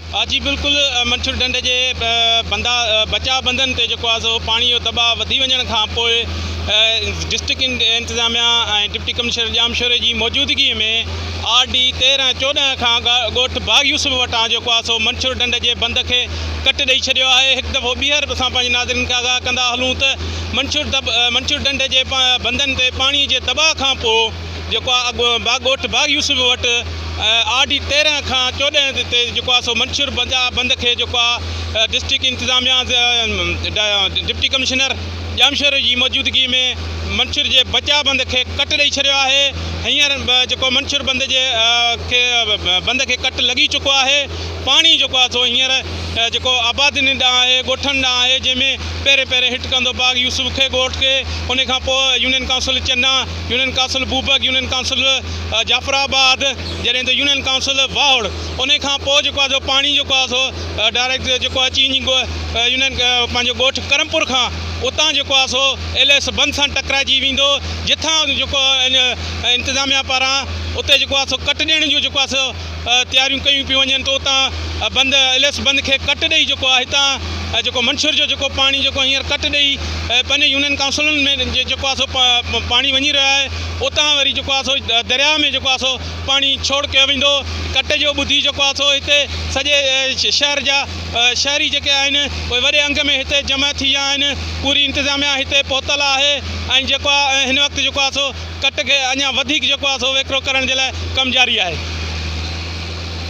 آ جي بلڪل منڇر ڍنڍ جي بندا بچاء بندن تي جيڪو آ سو پاڻي جو دٻاء وڌي وڃڻ کان پوء ڊسٽرڪٽ انتظاميا ۽ ڊپٽي ڪمشنر ڄامشوري جي موجودگي ۾ آر ڊي تيرهن ۽ چوڏهن کان ڳوٺ باغ يوسف وٽان جيڪو آ سو منڇر ڍنڍ جي بند کي ڪٽ ڏئي ڇڏيو آهي هڪ دفعو ٻيهر اسان پنهنجي ناظرين کي آگاهه ڪندا هلون ته منڇر ڍنڍ جي بندن تي پاڻي جي دٻاء کان پوء جيڪو آ اڳ با ڳوٺ باغ يوسف وٽ آر ڊي تيرنهن کان چوڏهن تي جيڪو آ سو منشور بنجا بند کي جيڪو آ ڊسٽرڪٽ انتظاميا ڊپٽي ڪمشنر ڄامشوري جي موجودگي ۾ منشور جي بچا بند کي ڪٽ ڏئي ڇڏيو آهي هينئر جيڪو منشور بند جي کي بند کي ڪٽ لڳي چڪو آهي پاڻي جيڪو آ سو هينئر جيڪو آبادين ڏانهن آهي ڳوٺن ڏانهن آهي جنهن ۾ پهرين پهرين هٽ ڪندو باغ يوسف کي ڳوٺ کي ان کان پوء يونين ڪائونسل چنا union council Bobak, union council Jafarabad جڏهن ته يونين ڪائونسل واهوڙ انهي کان پوء جيڪو آهي سو پاڻي جيڪو آهي سو ڊائريڪٽ جيڪو آهي چين جي يونين پنهنجو ڳوٺ ڪرمپور کان اتان جيڪو آهي سو ايل ايس بند سان ٽڪرائجي ويندو جتان جيڪو انتظاميا پاران اتي جيڪو آهي سو ڪٽ ڏيڻ جو جيڪو آهي سو تياريون ڪيون پيون وڃن ته اتان بند اليس بند کي ڪٽ ڏئي جيڪو آ هتان جيڪو منڇر جو جيڪو پاڻي جيڪو هينئر ڪٽ ڏئي پنهنجي يونين ڪائونسلن ۾ جيڪو آ سو پاڻي وڃي رهيو آهي اتان وري جيڪو آ سو درياء ۾ جيڪو آ سو پاڻي ڇوڙ ڪيو ويندو ڪٽ جو ٻڌي جيڪو آ سو هتي سڄي شهر جا شهري جيڪي آهن اهي وڏي انگ ۾ هتي جمع ٿي ويا آهن پوري انتظاميا هتي پهتل آهي ۽ جيڪو آ هن وقت جيڪو آ سو ڪٽ کي اڃا وڌيڪ جيڪو آهي سو ويڪرو ڪرڻ جي لاء ڪم جاري آهي.